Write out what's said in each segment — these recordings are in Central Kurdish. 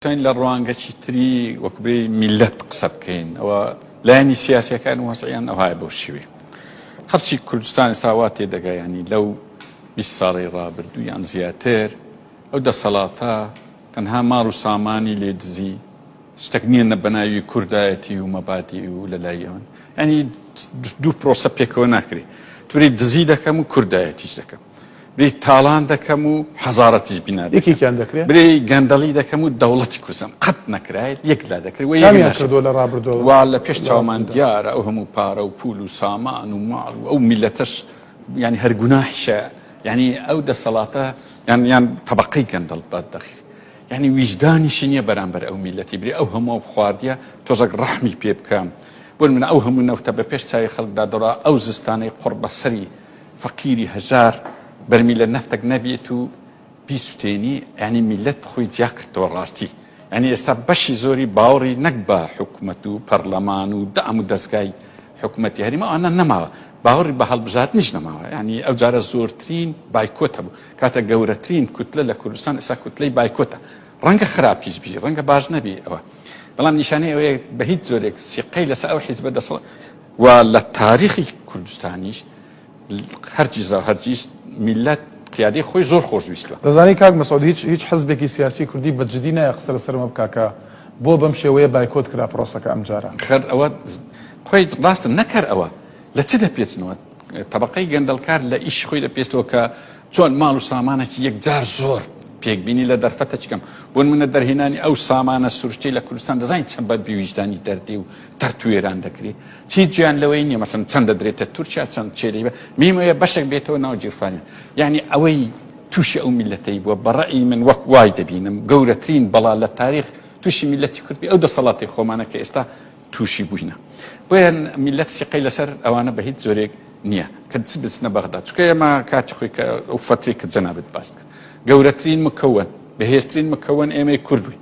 دەتوانین لە ڕوانگەکی تری وەک بێ میلەت قسە بکەین ئەوە لایەنی سیاسەکان و وەسعیان ئەوهای بۆ شوێ خەرچی کوردستانی ساوا تێدەگایانی لەو 20 ساڵی ڕابردوو یان زیاتر ئەو دەسەڵاتە تەنها ماڵ و سامانی لێ دزی شتێک نییە نە بەناوی کوردایەتی و مەبادی و لە لای ئەوان ئەنی دوو پرۆسە پێکەوە ناکرێت توری دزی دەکەم و کوردایەتیش دەکەم بری تاڵان دەکەم و حەزارەتیش بینا یەکێکیان دەکرێت بری گەندەڵی دەکەم و دەوڵەتی کوردستان قەت نەکرایت یەک لا دەکرد و یامیان کردو لە ڕابردەوە وا لە پێش چاومان دیارە ئەو هەموو پارە و پول و سامان و ماڵ و ئەو میلەتەش ینی هەر گوناحیشە ینی ئەو دەسەڵاتە یان یان طبقەی گەندەڵ بە دەخی ینی ویژدانیشی نییە بەرامبەر ئەو میلەتی بری ئەو هەموو خواردیە تۆزەک ڕەحمی پێ بکەم بۆن من ئەو هەموو نەوتە بە پێش چاوی خەڵکدا دەڕا ئەو زستانەی قڕ بەسەری فەقیری هەژار بەرمیلە نەفتەک نەبێت و بیسوتێنی یانی میلەت خۆی جیا کردەوە ڕاستی یانی ئێستا بەشی زۆری باوەڕی نەک بە حکومەت و پەرلەمان و دام و دەزگای حکومەتی هەریمە ئەوانە نەماوە باوەڕی بە هەڵبژاردنیش نەماوە یانی ئەو جارە زۆرترین بایکۆت هەبوو کاتە گەورەترین کوتلە لە کوردستان ئێستا کوتلەی بایکۆتە ڕەنگە خراپیش بی ڕەنگە باش نەبی ئەوە بەڵام نیشانەی ئەوەیە بە هیچ جۆرێک سیقەی لەسەر ئەو حیزبە دەسەڵ و لە تاریخی کوردستانیش هەرگیز و هەرگیز میللەت قیادەی خۆی زۆر خۆشویستوە. دەزانی کاک مەسعود هیچ هیچ حزبێکی سیاسی کوردی بە جدی نایە قسە لەسەر ئەمە بکا کە بۆ بەم شێوەیە بایکۆت کرا پرۆسەکە ئەمجارە. خەر ئەوە قوی ڕاستە نە کەر ئەوە لە چ دەپێچنەوە تەبەقەی گەندەڵکار لە ئیش خۆی دەپێچەوە کە چۆن ماڵ و سامانەکی یەکجار زۆر پێکبینی لە دەرفەتە چکەم بۆ نمونە دەرهێنانی ئەو سامانە سروشتەی لە کوردستان دەزانین چەند بە بێویژدانی دەردی و تەرتوێران دەکرێ چی جیان لەوەی نیە مەسن چەند دەدرێتە تورکیا چەند چێری بە میمەیە بەشێک بێتەوە ناو جیرفانیان یعنی ئەوەی تووشی ئەو میلەتەی بووە بەڕئی من وەک وای دەبینم گەورەترین بەڵا لە تاریخ تووشی میلەتی کوردی ئەو دەسەڵاتی خۆمانە کە ئێستا تووشی بووینە بۆیان میلەت سیقەی لەسەر ئەوانە بە هیچ زۆرێک نییە کە چ بچنە بەغدا چکە ئێمە کاتی خۆی کە ئەو فەتری کە جەنابێت باست کرد گەورەترین مکەوەن بەهێزترین مکەوەن ئێمەی کورد بووین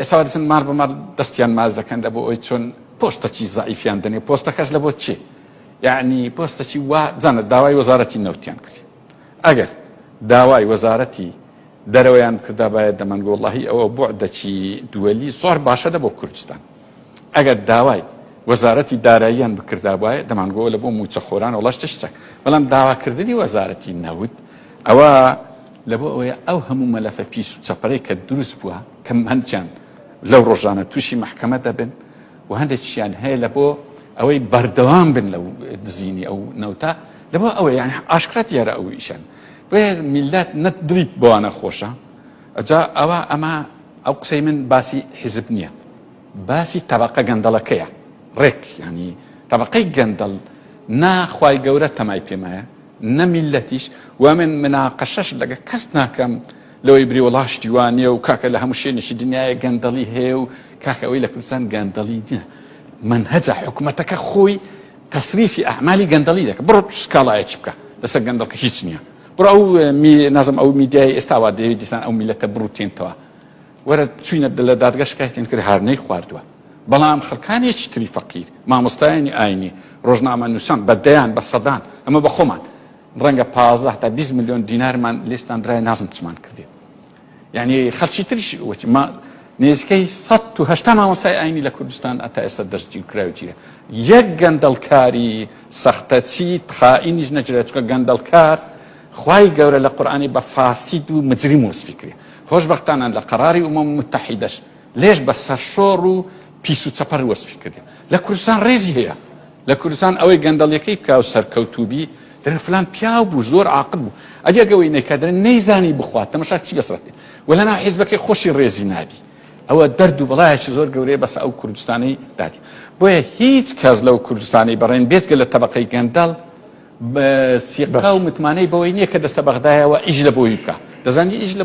ئێستا وا دەچن مار بە مار دەستیان ماچ دەکەن لە بۆ ئەوی چۆن پۆستەکی زەعیفیان دەنێ پۆستەکەش لە بۆ چی یعنی پۆستەکی وا جەنە داوای وەزارەتی نەوتیان کرد ئەگەر داوای وەزارەتی دەرەوەیان بکردا باید دەمەنگۆ وڵی ئەوە بۆعدەکی دووەلی زۆر باشە لە بۆ کوردستان ئەگەر داوای وەزارەتی داراییان بکردا وایە دەمانگۆ لە بۆ موچەخۆران وڵەشتش چەک بەڵام داواکردنی وەزارەتی نەوت ئەوە لەبۆ ئەوەیە ئەو هەموو مەلەفە پیس و چەپەرەی کە دروست بووە کە هەندیان لەو ڕۆژانە تووشی مەحکەمە دەبن و هەندێکیان هەیە لە بۆ ئەوەی بەردەوام بن لەو دزینی ئەو نەوتە لە بۆ ئەوەی یان ئاشکرا دیارە ئەو ئیشان بۆیە میلات نە دڵی بۆوانە خۆشە ئەجا ئەوە ئەمە ئەو قسەی من باسی حیزب نییە باسی تەبەقە گەندەڵەکەیە ڕێک یانی تەبەقەی گەندەڵ نا خوای گەورە تەمای پێمایە نە میلەتیش و من مناقەشەش لەگە کەس ناکەم لەوەی بری وڵا شتیوانە و کاکە لە هەموو شوێنێکی دنیاە گەندەڵی هەیە و کاکە ئەوەی لە کوردستان گەندەڵی نیە من هەجا حکوومەتەکە خۆی تەسریفی ئەعمالی گەندەڵی دەکە بڕ سکاڵایە چ بکە لەسەر گەندەڵکە هیچ نییە بڕ ئەو نازم ئەو میدیای ئێستاوا دەوێت دیسان ئەو میلەتە بڕوتێنتەوە وەرە چوینە لە دادگا شکایەتیان کرد هار نەیخواردوە بەڵام خەڵکانێکی تری فەقیر مامۆستایانی ئاینی ڕۆژنامە نوسان بە دەیان بە سەدان ئەمە بە خۆمان ڕەنگە پازدە تا بیست ملیۆن دینارمان لێستاندرای نازم چمان کردێت یعنی خەلکی تریش وتی ما نێزیکەی سە و هەشتا مامۆسای ئاینی لە کوردستان ئەتا ئێستا دەستگیر و کراوجیە یەک گەندەڵکاری سەختەچی خائینیش نەجرێت چکە گەندەڵکار خوای گەورە لە قورآانی بە فاسید و مجریم وەسفی کرێ خۆشبەختانە لە قەراری ئومەم موتەحیدەش لێژ بە سەرشۆڕ و پیس و چەپەر وەسفی کردین لە کوردستان ڕێزی هەیە لە کوردستان ئەوەی گەندەڵیەکەی بکا و سەرکەوتوو بی دەرێ فلان پیاو بوو زۆر عاقل بوو ئەدی ئەگەوەی نەیکا دەرێ نەیزانی بخوات تەمەشا چی بەسەرەتی و لەناو حیزبەکەی خۆشی ڕێزی نابی ئەوە دەرد و بەڵایەکی زۆر گەورەیە بەسە ئەو کوردستانەی دادی بۆیە هیچ کەس لەو کوردستانی بەڕێن بێتگە لە تەبقەی گەندەڵ سیقا و متمانەی بەوەی نییە کە دەستە بەغدایەوە ئیش لە بۆی بکە دەزانی ئیش لە